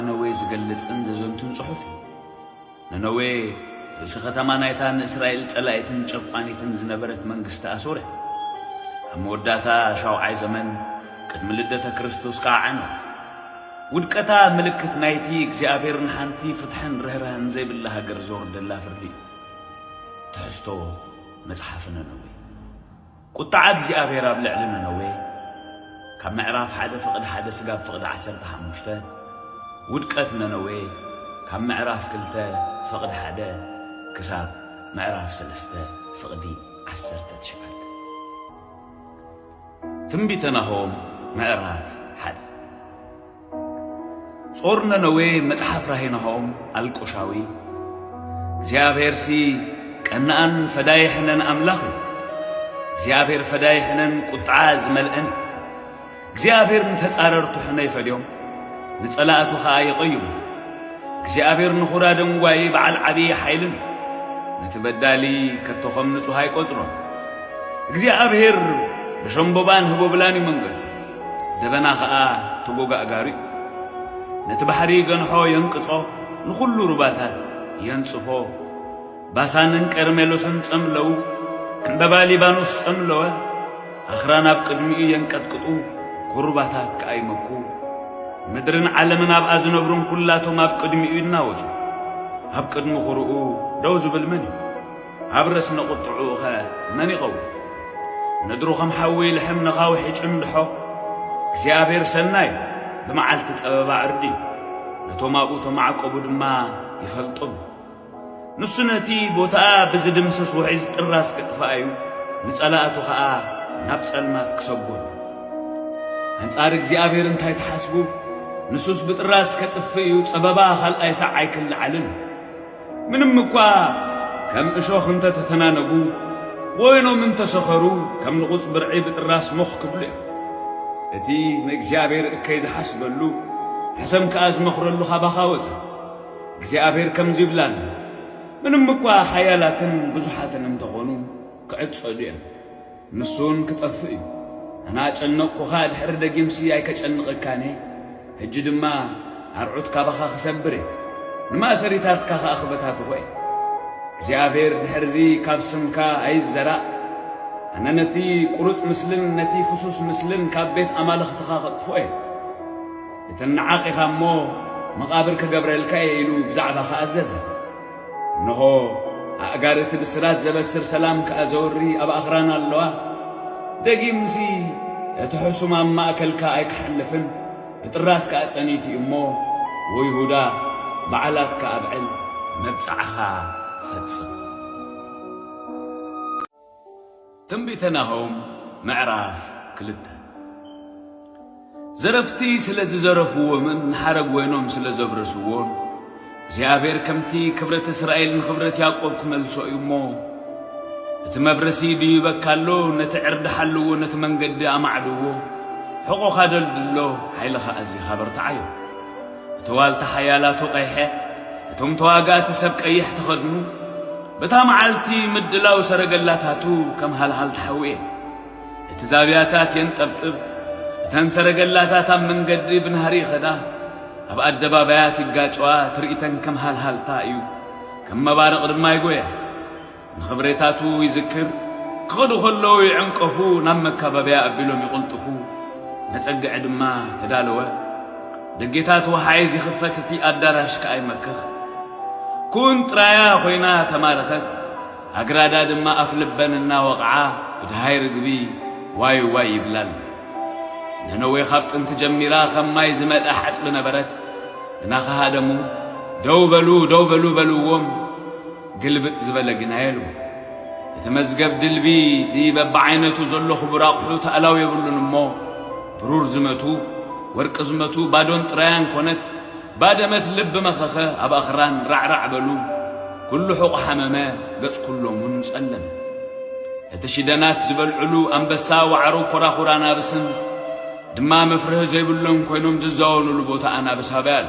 ነነዌ ዝገልጽን ዘዘንቱን ጽሑፍ እዩ። ነነዌ ርእሲ ከተማ ናይታ ንእስራኤል ጸላኢትን ጨቋኒትን ዝነበረት መንግስቲ ኣሶር እያ። ኣብ መወዳእታ ሻውዓይ ዘመን ቅድሚ ልደተ ክርስቶስ ከኣ ዓነወት። ውድቀታ ምልክት ናይቲ እግዚኣብሔር ንሓንቲ ፍትሕን ርህራህን ዘይብላ ሃገር ዘውርደላ ፍርዲ እዩ። ትሕዝቶ መጽሓፍ ነነዌ ቁጥዓ እግዚኣብሔር ኣብ ልዕሊ ነነዌ ካብ ምዕራፍ ሓደ ፍቕድ ሓደ ስጋብ ፍቕድ ዓሰርተ ሓሙሽተ ውድቀት ነነዌ ካብ ምዕራፍ ክልተ ፍቕድ ሓደ ክሳብ ምዕራፍ ሰለስተ ፍቕዲ ዓሰርተ ትሽዓተ ትንቢተ ናሆም ምዕራፍ ሓደ ጾር ነነዌ መጽሓፍ ራሄ ናሆም ኣልቆሻዊ እግዚኣብሔርሲ ቀናኣን ፈዳይ ሕነን ኣምላኽ እዩ። እግዚኣብሔር ፈዳይ ሕነን ቁጥዓ ዝመልአን እዩ። እግዚኣብሔር ንተጻረርቱ ሕነ ይፈድዮም፣ ንጸላእቱ ኸኣ ይቐይሙ። እግዚኣብሔር ንኹራ ደንጓይ በዓል ዓብዪ ሓይልን ነቲ በዳሊ ከቶ ኸም ንጹሕ ኣይቈጽሮን። እግዚኣብሔር ብሸምቦባን ህቦብላን እዩ መንገዱ። ደበና ኸኣ ተጎጋእጋሪኡ ነቲ ባሕሪ ይገንሖ የንቅጾ፣ ንኹሉ ሩባታት የንጽፎ። ባሳንን ቀርሜሎስን ጸምለው፣ ዕምበባ ሊባኖስ ጸምለወ፣ ኣኽራን ኣብ ቅድሚኡ የንቀጥቅጡ፣ ኩርባታት ከኣ ይመኩ። ምድርን ዓለምን ኣብኣ ዝነብሩን ኵላቶም ኣብ ቅድሚኡ ይናወጹ። ኣብ ቅድሚ ዅርኡ ደው ዝብል መን እዩ? ኣብ ርእስነ ቁጥዕኡኸ መን ይኸውን? ምድሩ ኸም ሓዊ ይልሕም፣ ነኻውሕ ይጭንድሖ። እግዚኣብሄር ሰናይ እዩ፣ ብመዓልቲ ጸበባ ዕርዲ እዩ፣ ነቶም ኣብኡ እተማዕቈቡ ድማ ይፈልጦም እዩ። ንሱ ነቲ ቦታኣ ብዚድምስስ ውሕጅ ጥራስ ኪጥፍኣ እዩ፣ ንጸላእቱ ኸኣ ናብ ጸልማት ኪሰጐም እዩ። ኣንጻር እግዚኣብሄር እንታይ ትሓስቡ? ንሱስ ብጥራስ ኬጥፍእ እዩ፣ ጸበባ ኻልኣይ ሳዕ ኣይኪለዓልን እዩ። ምንም እኳ ከም እሾኽ እንተ ተተናነጉ፣ ወይኖም እንተ ሰኸሩ፣ ከም ንቑጽ ብርዒ ብጥራስ ሞኽ ክብሉ እዮም። እቲ ንእግዚኣብሔር እከይ ዝሓስበሉ፣ ሕሰም ከኣ ዝመኽረሉ ካባኻ ወጸ። እግዚኣብሔር ከምዚ ይብላ ኣሎ፣ ምንም እኳ ሓያላትን ብዙሓትን እንተ ኾኑ፣ ክዕጸዱ እዮም። ንሱውን ክጠፍእ እዩ። ኣና ጨነቕኩኻ ድሕሪ ደጊምሲ ኣይከጨንቐካን እየ። ሕጂ ድማ ኣርዑት ካባኻ ክሰብር እየ፣ ንማእሰሪታትካ ኸኣ ክበታትኾ እየ። እግዚኣብሄር ድሕርዚ ካብ ስምካ ኣይዘራእ፣ ኣነ ነቲ ቁሩጽ ምስልን ነቲ ፍሱስ ምስልን ካብ ቤት ኣማልኽትኻ ከጥፍኦ እየ። እትነዓቕ ኢኻ እሞ መቓብር ክገብረልካ እየ ኢሉ ብዛዕባኻ ኣዘዘ። እነሆ ኣእጋር እቲ ብስራት ዘበስር ሰላም ከኣ ዘውሪ ኣብ ኣኽራን ኣለዋ። ደጊምሲ እቲ ሕሱም ኣብ ማእከልካ ኣይክሓልፍን፣ ብጥራስ ከኣ ጸኒት እዩ እሞ፣ ወይሁዳ፣ በዓላትካ ኣብዕል፣ መብጽዓኻ ፈጽም። ትንቢተ ናሆም ምዕራፍ ክልተ ዘረፍቲ ስለ ዝዘረፍዎምን ንሓረግ ወይኖም ስለ ዘብረስዎን እግዚኣብሔር ከምቲ ክብረት እስራኤል ንኽብረት ያዕቆብ ክመልሶ እዩ እሞ እቲ መብረሲ ድዩበካ ኣሎ ነቲ ዕርዲ ሓልዎ ነቲ መንገዲ ኣማዕድዎ ሕቖኻ ደልድሎ ሓይልኻ ኣዚኻ በርትዓዮ እቲ ዋልታ ሓያላቱ ቀይሐ፣ እቶም ተዋጋእቲ ሰብ ቀይሕ ተኸድኑ፣ በታ መዓልቲ ምድላው ሰረገላታቱ ከም ሃልሃልታ ሓዊ እየ። እቲ ዛብያታት የንጠብጥብ፣ እተን ሰረገላታት ኣብ መንገዲ ብናህሪ ይኸዳ፣ ኣብ ኣደባባያት ይጋጨዋ፣ ትርኢተን ከም ሃልሃልታ እዩ፣ ከም መባርቕ ድማ ይጎያ። ንኽብሬታቱ ይዝክር፣ ክኸዱ ከለዉ ይዕንቀፉ፣ ናብ መካበብያ ኣቢሎም ይቕልጥፉ፣ መጸግዒ ድማ ተዳለወ። ደጌታት ወሓይዝ ይኽፈት፣ እቲ ኣዳራሽ ከኣ ይመክኽ። ኩን ጥራያ ኮይና ተማረኸት፣ ኣግራዳ ድማ ኣፍልበን እናወቕዓ ብደሃይ ርግቢ ዋይ ዋይ ይብላ ኣለዋ። ነነዌ ካብ ጥንቲ ጀሚራ ከም ማይ ዝመልኣ ሓጽቢ ነበረት። እናኸሃደሙ ደው በሉ ደው በሉ በልዎም። ግልብጥ ዝበለ ግና የልቦ። እቲ መዝገብ ድልቢ እቲ በብዓይነቱ ዘሎ ክቡር ኣቑሑ ተእላው የብሉን እሞ ብሩር ዝመቱ ወርቂ ዝመቱ ባዶን ጥራያን ኮነት ባደመት ልብ መኸኸ ኣብ ኣኽራን ራዕራዕ በሉ ኩሉ ሑቕ ሓመመ ገጽ ኩሎም እውን ጸለመ። እቲ ሽደናት ዝበልዕሉ ኣንበሳ ዋዕሮ ኮራኹር ኣናብስን ድማ መፍርሂ ዘይብሎም ኮይኖም ዝዛወኑሉ ቦታ ኣናብስ ኣበይ ኣሎ?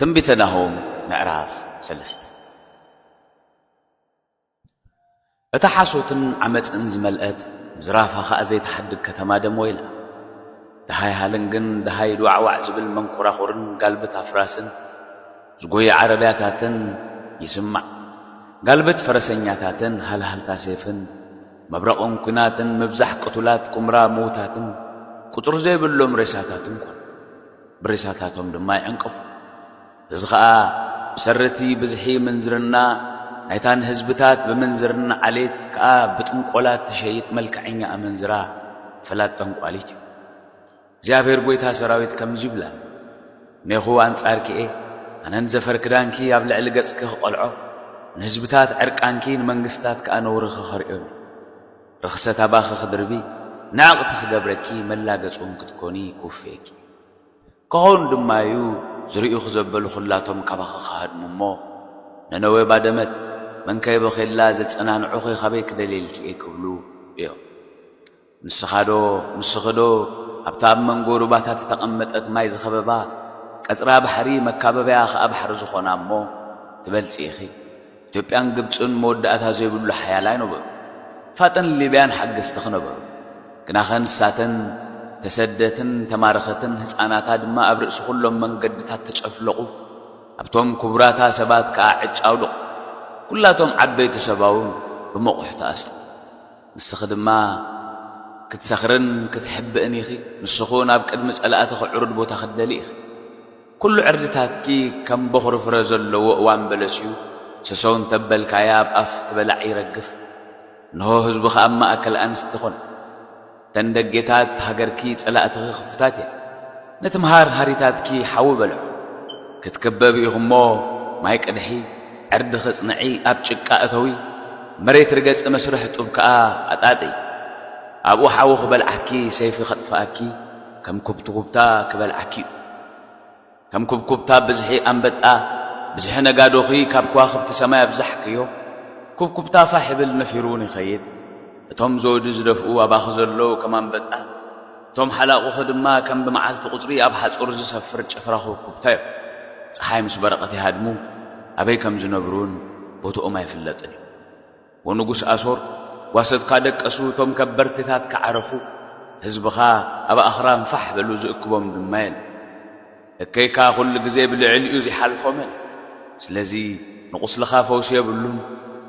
ትንቢተ ናሆም ምዕራፍ ሰለስተ እታ ሓሶትን ዓመፅን ዝመልአት ምዝራፋ ኸዓ ዘይተሓድግ ከተማ ደሞ ኢላ ደሃይ ሃልንግን ደሃይ ዱዓዋዕ ዝብል መንኮራኹርን ጋልብት ኣፍራስን ዝጎይ ዓረብያታትን ይስማዕ ጋልብት ፈረሰኛታትን ሃልሃልታ ሴፍን መብረቕን ኲናትን ምብዛሕ ቅቱላት ኵምራ ምዉታትን ቍጽሪ ዘይብሎም ሬሳታትን ኰኑ። ብሬሳታቶም ድማ ይዕንቀፉ። እዚ ኸኣ ብሰሪ እቲ ብዝሒ ምንዝርና ናይታ ንህዝብታት ብምንዝርና ዓሌት ከኣ ብጥንቈላ እትሸይጥ መልክዐኛ ኣመንዝራ ፈላጥ ጠንቋሊት እዩ። እግዚኣብሄር ጐይታ ሰራዊት ከምዚ ይብላ፣ እኔኹ ኣንጻርኪ እየ፣ ኣነን ዘፈር ክዳንኪ ኣብ ልዕሊ ገጽኪ ኽቐልዖ፣ ንህዝብታት ዕርቃንኪ፣ ንመንግስትታት ከኣ ነውርኺ ኸርእዮም እየ። ርኽሰት ኣባኺ ኽድርቢ፣ ንዕቕቲ ኽገብረኪ፣ መላገጺውን ክትኰኒ፣ ክውፍየኪ እዩ። ክኸውን ድማ እዩ፣ ዝርእዩኺ ዘበሉ ዅላቶም ካባኺ ኽሃድሙ እሞ፣ ነነዌ ባደመት፣ መንከ የበኺ ኣላ፣ ዘጸናንዑኺ ኻበይ ክደልየልኪ እየ? ክብሉ እዮም። ንስኻዶ ንስኽዶ ኣብታ ኣብ መንጎ ሩባታት እተቐመጠት ማይ ዝኸበባ ቀጽራ ባሕሪ መካበብያ ከኣ ባሕሪ ዝኾና እሞ ትበልጺ ኢኺ። ኢትዮጵያን ግብጽን መወዳእታ ዘይብሉ ሓያላይ ነበሩ። ፋጥን ሊብያን ሓገዝትኺ ነበሩ። ግናኸ ንሳተን ተሰደትን ተማረኸትን ህጻናታ ድማ ኣብ ርእሲ ኩሎም መንገድታት ተጨፍለቑ። ኣብቶም ክቡራታ ሰባት ከኣ ዕጭ ኣውደቑ። ኩላቶም ዓበይቲ ሰባውን ብመቑሕ ተኣስሩ። ንስኺ ድማ ክትሰኽርን ክትሕብእን ኢኺ፣ ንስኹን ኣብ ቅድሚ ጸላእትኺ ዕሩድ ቦታ ክትደልዪ ኢኺ። ኵሉ ዕርድታትኪ ከም በዅሪ ፍረ ዘለዎ እዋን በለስ እዩ፣ ሰሰው እንተ በልካዮ ኣብ ኣፍ ትበላዕ ይረግፍ፣ እንሆ ህዝብኺ ኣብ ማእከል ኣንስቲ ኰነ። እተን ደጌታት ሃገርኪ ጸላእትኺ ክፉታት እየን። ነቲ መሃርሃሪታትኪ ሓዊ በልዖ። ክትክበቢ ኢኹ'ሞ ማይ ቅድሒ፣ ዕርዲ ክጽንዒ ኣብ ጭቃ እተዊ፣ መሬት ርገጺ መስርሕ ጡብ ከኣ ኣጣጥዪ። ኣብኡ ሓዊ ክበልዓኪ ሰይፊ ከጥፍኣኪ ከም ኩብትኩብታ ክበልዓኪ'ዩ። ከም ኩብኩብታ ብዝሒ ኣንበጣ፣ ብዝሒ ነጋዶኺ ካብ ከዋኽብቲ ሰማይ ኣብዛሕክዮ። ኩብኩብታ ፋሕ ይብል ነፊሩ'ውን ይኸይድ። እቶም ዘውዲ ዝደፍኡ ኣባኺ ዘለዉ ከም ኣንበጣ። እቶም ሓላቑኺ ድማ ከም ብመዓልቲ ቁጽሪ ኣብ ሓጹር ዝሰፍር ጭፍራ ኩብኩብታ'ዮም። ጸሓይ ምስ በረቐት ይሃድሙ፣ ኣበይ ከም ዝነብሩ'ውን ቦትኦም ኣይፍለጥን እዩ። ወንጉስ ኣሶር፣ ጓሶትካ ደቀሱ፣ እቶም ከበርቲታትካ ዓረፉ፣ ህዝብኻ ኣብ ኣኽራን ፋሕ በሉ፣ ዝእክቦም ድማ የለን። እከይካ ኩሉ ግዜ ብልዕሊኡ ዚሓልፎ መን እዩ? ስለዚ ንቑስልኻ ፈውሲ የብሉን፣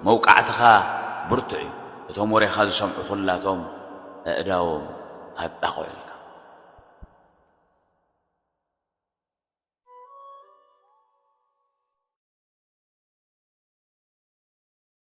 መውቃዕትኻ ብርቱዕ እዩ፣ እቶም ወሬኻ ዝሰምዑ ኩላቶም ኣእዳዎም ኣጣቕዑልካ።